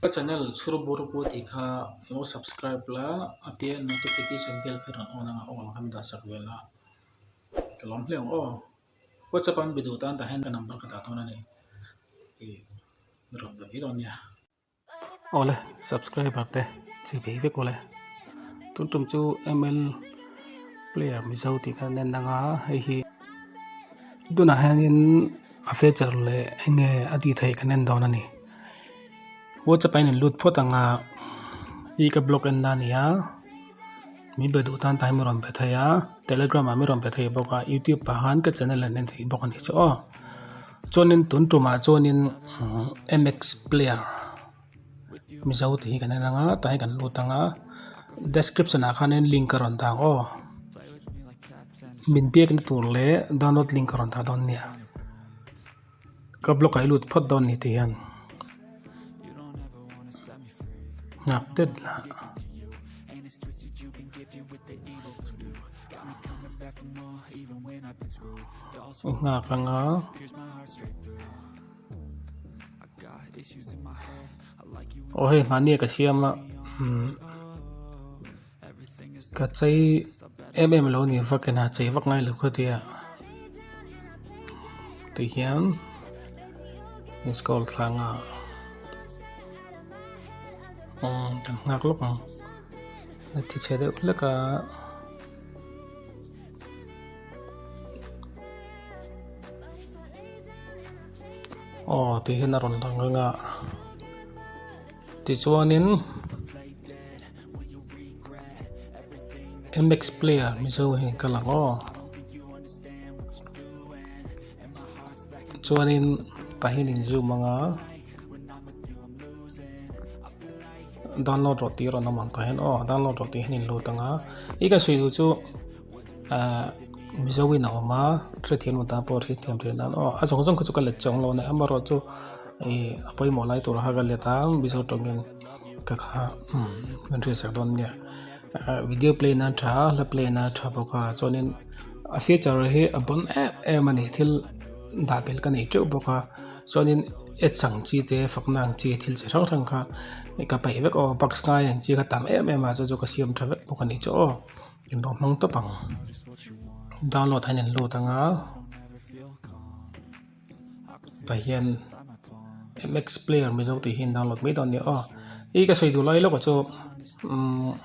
Ka channel chhur bur pu tih kha lo subscribe la a piah ah notification bell kha rawn on ang a all kan dah sak ve la ka lawm hle ang aw whatsapp an be duh tan tah hian ka number ka dah dawn a ni rawn be dawn nia awle subscriber te chhi ve vek awle tum tum chu ml player mizo tih kha a rawn en ang a hei hi. tunah hianin a feature leh eng nge a tihtheih kan en dawn a ni whatsapp a in lut phawt ang a i ka block en nan a ni a min be duh tan tah hian min rawn pe thei a telegram ah min rawn pe thei bawk a youtube pah han ka channel an en thei bawk a ni chu aw chuanin tun tumah chuanin mx player -- mizo tih hi kan inang a tah hi kan lut anga description ah khan in link a rawn dah ang aw min biak na tur leh download link a rawn dah dawn nia ka block ah hi a lut phawt dawn a ni tih hian nghak tep lah. aw hei nghahni ka siam a umm ka chei em em lo a ni va ka ina chei vak ngai lo kha tia tui hian missed call thlang a umm kan nghak lawk ang ti chhe deuh hlek a. aw tih hian a rawn lang reng a tichuanin mx player mizo hi ka lang aw chuanin pahnih in zoom anga. download rawh tih a rawn awm ang kah hian aw download rawh tih hian in lut ang a i kan sawi duh chu ah mizo in a awm a hre thiam atan pawh hre thiam theih nan aw a zawng zawng kha chu ka let che ang lo a nih amaherawhchu chu i a pawimawh lai tur kha ka let a mizo tawngin ka kha umm min hriatsak dawn nia ah video play nan tha a la play nan a tha bawk a chuanin a feature hi a bun em em a ni thil dah bel ka nei teuh bawk a Chuanin e chang chi te fakna ang chi thil chi hrang hrang kha ka peih vek aw bugs ngai ang chi ka tam em em a chu chu ka siam tha vek bawk a nih chu aw inrawh hmang tawp ang download hahin an lut anga tah hian mx player mizo tih hi an download mai dawn nia aw i ka sawi duh lai lawkah chu umm--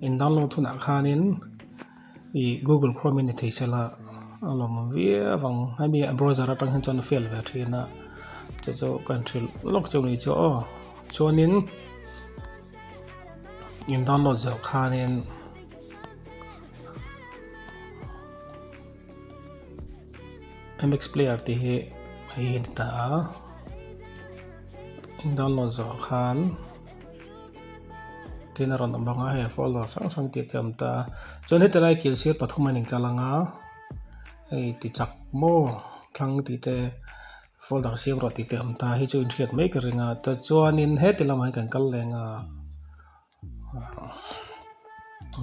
Indang lawng thunah khanin ih Google Chrome in i thei sela a lawm viau ang hemi browser atang hian chuan a fail ve thin a chu chu ka han hrilh lawk chu mai chu aw chuanin in download zawh khanin mx player tih hi hei a ni ta a in download zawh khan. tin a rawn awm bawk a hei follower hrang hrang tih a tam ta chuan heti lai kil sir pathum a in kal ang a hei tichak maw thlang tih te folder sir erawh tih te awm ta hi chu in hriat mek a ring a ta chuan in heti lamah hi kan kal leng a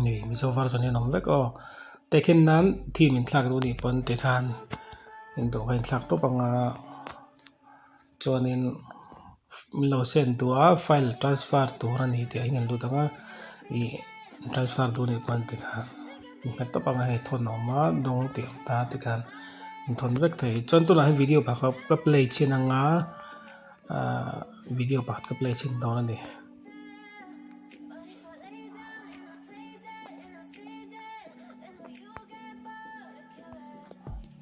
mi mizo version hi a nawm vek aw te khin nan theme in thlak duh anih pawn tikhan in duh ka in thlak tawp ang a. chuanin min lo send tûr a file transfer tûr a ni tih a inang lut ang a ih transfer tûr ni pawh a ni tih kha min hmet tawp ang a hei thawnna awm a dawng tih ang ta te khan min thawn vek thei chuan tunah hian video pakhat ka play chhin ang a ahh video pakhat ka play chhin dawn a ni.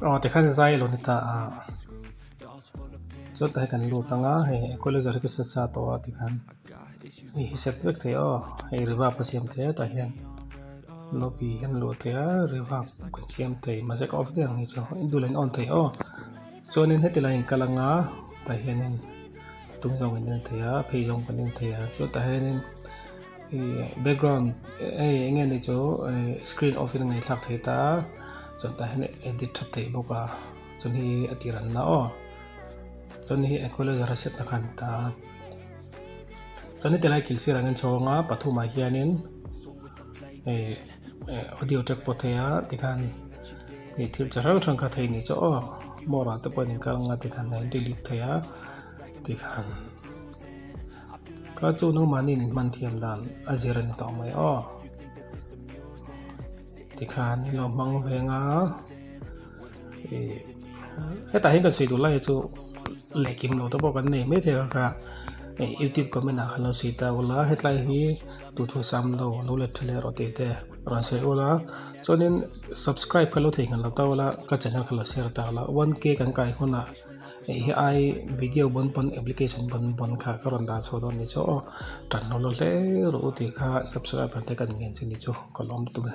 Aw tikhan zai lo ni ta a chuan ta hi kan lut anga hei equalizer hi ka set sa tawh a tikhan hei hi set vek thei aw hei reverb ka siam thei a tah hian note hi a ni lo tel a reverb ka siam thei mahse ka off diah ang hi chu a dul an on thei aw. Chuanin heti laiin ka la nga, tah hianin tum zawng in en thei a, a phei zawng kan en thei a, chuan tah hianin background hei eng nge ni chu screen off in a ngaithlak thei ta a, chuan tah hian edit tha theih bawk a, chuan hei hi a tiran la aw, chuan hei hi equalizer a set na kha a ni ta a, chuan heti lai kil sirah angin chhawng a, pathumah hianin hei. audio track pawh thei a tikhan ih thil chi hrang hrang kha thei a ni chu aw more ah te pawh an inkar ang a tikhan a in delete thei a tikhan kha chu nang mahni in hman thiam dan a zir a ni tawh mai aw tikhan i lo hmang ve ang a ih hetah hian kan sawi duh lai hi chu leh kim lo te pawh kan nei maithei ang kha youtube comment ah khan lo sawi ta ula hetlai hi-- Tutu siam lo lo let tha leh rawh tih te rawn sawi ul a chuanin subscribe kha lo thei nghelh lo ta ula ka channel kha lo share ta ula one k kan kai hunah hei hi ai video pawn pawn application pawn pawn kha ka rawn dan chho dawn ni chu aw tan hawlh hawlh hle rawh u tih kha subscribe te kan ngen che ni chu ka lawm tum e.